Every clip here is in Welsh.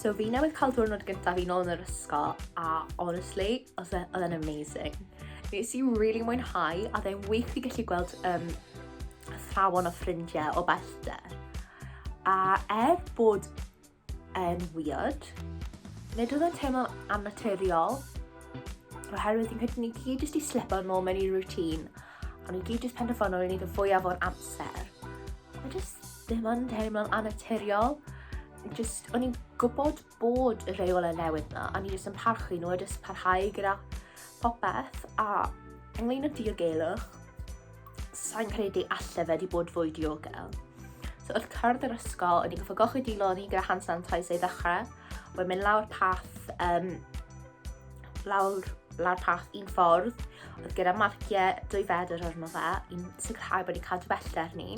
So fi newydd cael diwrnod gyntaf fi nôl yn yr ysgol a honestly, oedd e, oedd e'n amazing. Nes i really mwynhau a dde'n wych i gallu gweld um, athrawon o ffrindiau o bellter. A er bod e'n weird, nid oedd e'n teimlo annaturiol, oherwydd fi'n credu ni gyd jyst i slipo nôl mewn i routine O'n i gyd jyst penderfynu i wneud y fwyaf o'r amser. Mae jyst ddim yn teimlo'n anaturiol. Jyst, o'n i'n gwybod bod y rheol yn newid na, a ni jyst yn parchu nhw a jyst parhau gyda popeth. A ynglyn y diogelwch, sa'n credu allai fe di bod fwy diogel. So wrth cyrraedd yr ysgol, o'n i'n goffa gochyd i loni gyda hand sanitizer i ddechrau. Wedyn mynd lawr path um, lawr, lawr path un ffordd, oedd gyda marciau dwy fedr arno fe, i'n sicrhau bod ni'n cadw bellter ni.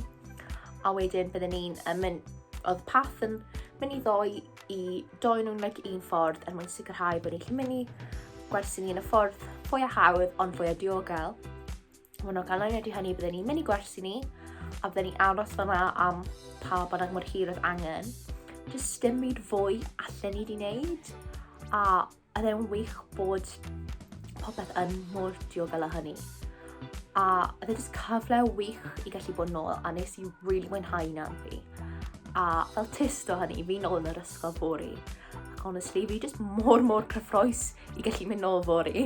A wedyn byddwn ni'n mynd, oedd path yn mynd i ddoi i doi nhw'n like, un ffordd er mwyn sicrhau bod ni'n gallu mynd i gwersi ni yn y ffordd fwy a hawdd ond fwy a diogel. Mae nhw'n canlyniad i hynny byddwn ni'n mynd i gwersi ni a byddwn ni aros fyna am pa bynnag mor hir oedd angen. Just dim byd fwy allan ni wedi wneud a oedd e'n wych bod popeth yn mor diogel â hynny. A oedd e'n cyfle wych i gallu bod nôl a nes i really mwynhau na fi. A fel tist o hynny, fi'n ôl yn yr ysgol fori honestly, fi just mor mor cyffroes i gallu mynd nôl fori.